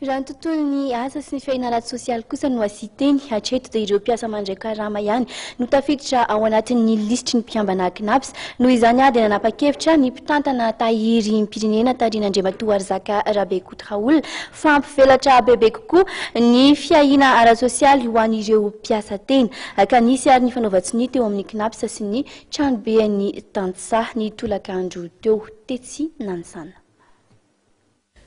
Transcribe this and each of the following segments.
Raha ny tontolon'ny asa sy ny fiainana ara-tsosialy kosa no hasiteny, hatreto dia ireo mpiasa mandray karama ihany no tafiditra ao anatin'ny lisitry ny mpikambana Cnaps. Noho izany ary dia nanapa-kevitra ny mpitantana tahirim-pirenena tarihin'Andriamatoa Rzaka Rabekoutraoul fa hampivelatra bebe kokoa ny fiahiana ara-tsosialy ho an'ireo mpiasa tena. Ka nisy ary ny fanaovan-tsonia teo amin'ny Cnaps sy ny tranoben'ny tantsaha ny tolakandro teo, tetsy Nanisana.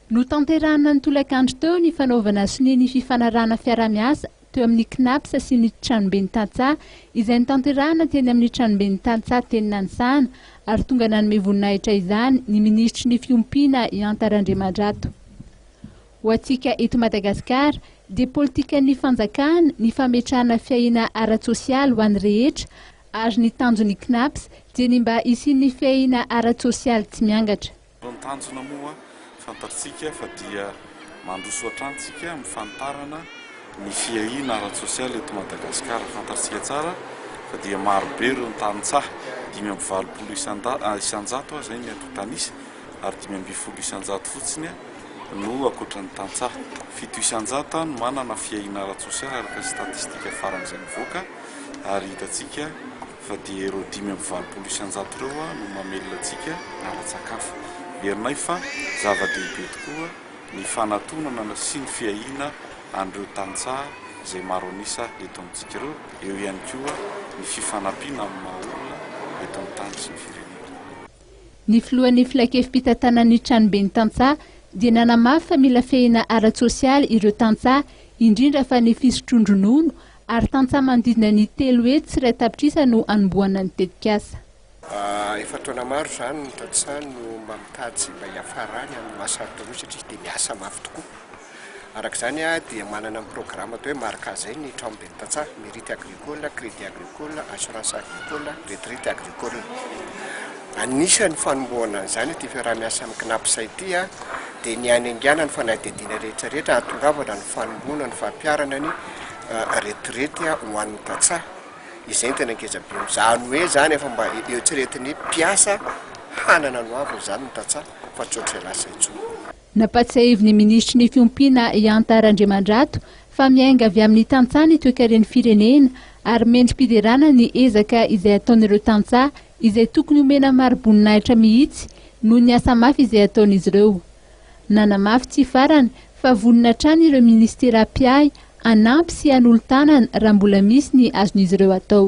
Notanterahina ny tolakandro teo ny fanaovana sonia ny fifanarahana fiarahamiasa teo amin'ny Cnaps sy ny Tranoben'ny Tantsaha izay notanterahina teny amin'ny Tranoben'ny Tantsaha teny Nanisahana ary tonga nanome voninahitra izany ny Minisitry ny Fiompiana i Anta Randriamandrato. Ho antsika eto Madagasikara dia politikan'ny fanjakana ny fametrahana fiahiana ara-tsosialy ho an'ny rehetra Ary ny tanjon'ny Cnaps dia ny mba hisian'ny fiahiana ara-tsosialy tsy miangatra. Ny tanjona moa fantatrtsika fa dia mandroso hatrany tsika amin'ny fanitarana ny fiahiana ara-tsosialy eto Madagasikara. Fantatrtsika tsara fa dia maro be ireo tantsaha, dimy amby valopolo isan-jato aho izay ny eto tanisa, ary dimy ambin'ny folo isan-jato fotsiny no ankoatra ny tantsaha. Fito isan-jato no manana fiahiana ara-tsosialy araka ny statistika farany izay nivoaka. ary hitantsika fa dia ireo dimy amby valopolo isan-jato ireo no mamelona antsika ara-tsakafo. Herinay fa zava-dehibe tokoa ny fanatonana sy ny fiahiana an'ireo tantsaha izay maro an'isa eto amintsika ireo, eo ihany koa ny fifanampiana amin'ny maha olona eto amin'ny tany sy ny firenena. Ny filohan'ny filankevi-pitantanan'ny tranoben'ny tantsaha dia nanamafy fa mila fehina ara-tsosialy ireo tantsaha, indrindra fa ny fisotroan-dronono Ary tantsaha manodidina ny telo hetsy sy iray tapitrisa no hanombohana ny tetikasa. Efa taona maro izany ny tantsaha no mba mikajy mba hiafarany amin'ny maha sarotra an'io satria dia miasa mafy tokoa. Araka izany dia manana ny programa atao hoe Marca izay ny tranomben'ny tantsaha, Merite Agricole, Crédit Agricole, Assurance Agricole, Retraite Agricole. Anisan'ny fanombohana an'izany ity fiaraha-miasa amin'ny Cnaps ity dia ny hanainganana ny fanadihadiana rehetra rehetra hahatongavana ny fanombohana ny fampiharana ny retirety ho an'ny tantsaha. Izay no tena ngezabe eo. Izany hoe izany efa mba eritreretin'ny mpiasa hanana ny hoaviny izany ny tantsaha fa tsy ohatr'izay lasa intsony. Nampatsiahivin'ny Minisitry ny Fiompiana i Anta Randriamandrato fa miainga avy amin'ny tantsaha ny toekaren'ny firenena ary mendri-piderana ny ezaka izay ataon'ireo tantsaha izay tokony homena mari-boninahitra mihitsy noho ny asa mafy izay ataon'izy ireo. Nanamafy tsy farany fa vonona hatrany ireo minisitera mpiahy hanampy sy hanolo-tanana raha mbola misy ny azon'izy ireo atao.